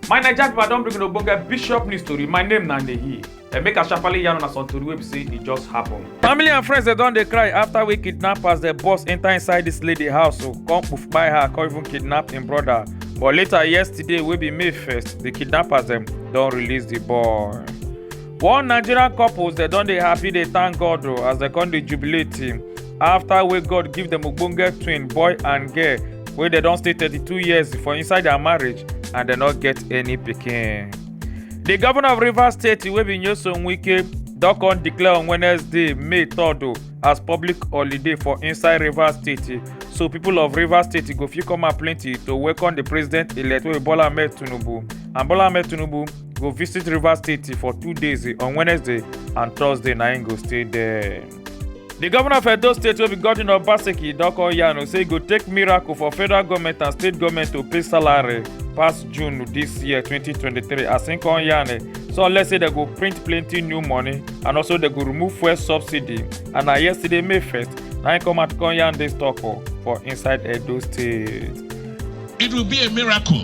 my naija pipo i don bring una ogbonge bishop news tori my name na ndeyi dem make asafale yarn una some tori wey be say e just happen. family and friends dem don dey cry after wey kidnappers dey burst enter inside dis lady house o oh, come poof kpai her come even kidnap im brother but later yesterday wey be may 1st di kidnappers dem don release di boy. one nigerian couples dem don dey happy dey thank god o as dem come dey jubilate after wey god give dem ogbonge twin boy and girl wey dem don stay 32 years for inside their marriage and dem no get any pikin di governor of rivers state wey be nyesom wike don come declare on wednesday may 3rd o as public holiday for inside rivers state so people of rivers state go fit come out plenty to welcome di president elect wey be bola ahmed tinubu and bola ahmed tinubu go visit rivers state for two days eh, on wednesday and thursday na im go stay there. di govnor of edo state wey be godwin obaseki don call yarn say e go take miracle for federal goment and state goment to pay salary pass june dis year 2023 as im come yarn eh, so unless say dem go print plenty new money and also dem go remove fuel subsidy and na yesterday may 1st na im come out come yarn dis tok oh, for inside edo state. it will be a miracle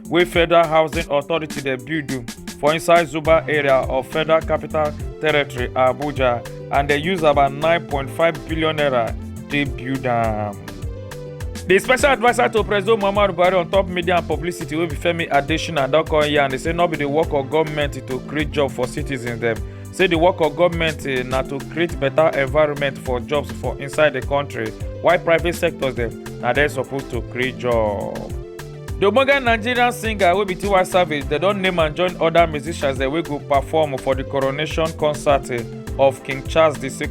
wey federal housing authority dey build o for inside zuba area of federal capital territory abuja and dey use about 9.5 billion naira take build am. di special adviser to president muhammadu buhari on top media and publicity wey be femi adesina don come yarn dey say no be di work of goment to create job for citizens dem say di work of goment na to create beta environment for jobs for inside di kontri while private sectors dem na dem suppose to create job. The ogbonge Nigerian singer wey be Tiwa Savage, dem don name and join other musicians dem wey go perform for the coronation concert eh, of King Charles II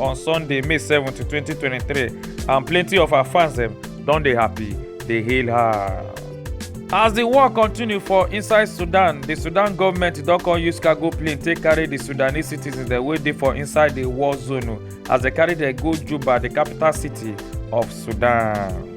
on Sunday, May 7, 2023 and plenty of her fans dem don dey happy dey hail her. As the war continue for inside Sudan, the Sudan government don come use cargo plane take carry the Sudanese citizens dem wey dey for inside the war zone oh, as dem carry dem go Juba, the capital city of Sudan.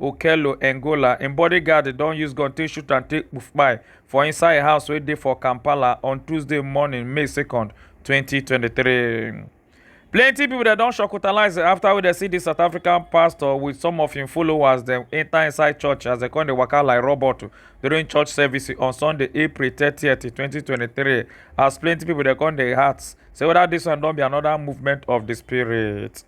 okello engola im bodyguard don use gun take shoot am take kpai for inside im house wey dey for kampala on tuesday morning may 2nd 2023 plenty pipo dem don shockotalise afta wey dem see di south african pastor wit some of im followers dem enta inside church as dem come dey waka like robot during church service on sunday april 30 2023 as plenty pipo dem come dey heart say weda dis one don be anoda movement of di spirit.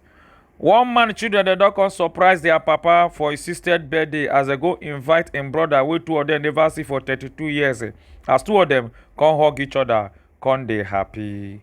One man children dem don come surprise their papa for his sister birthday as dem go invite im brother wey two of dem never see for 32 years eh, as two of dem come hug each other come dey happy.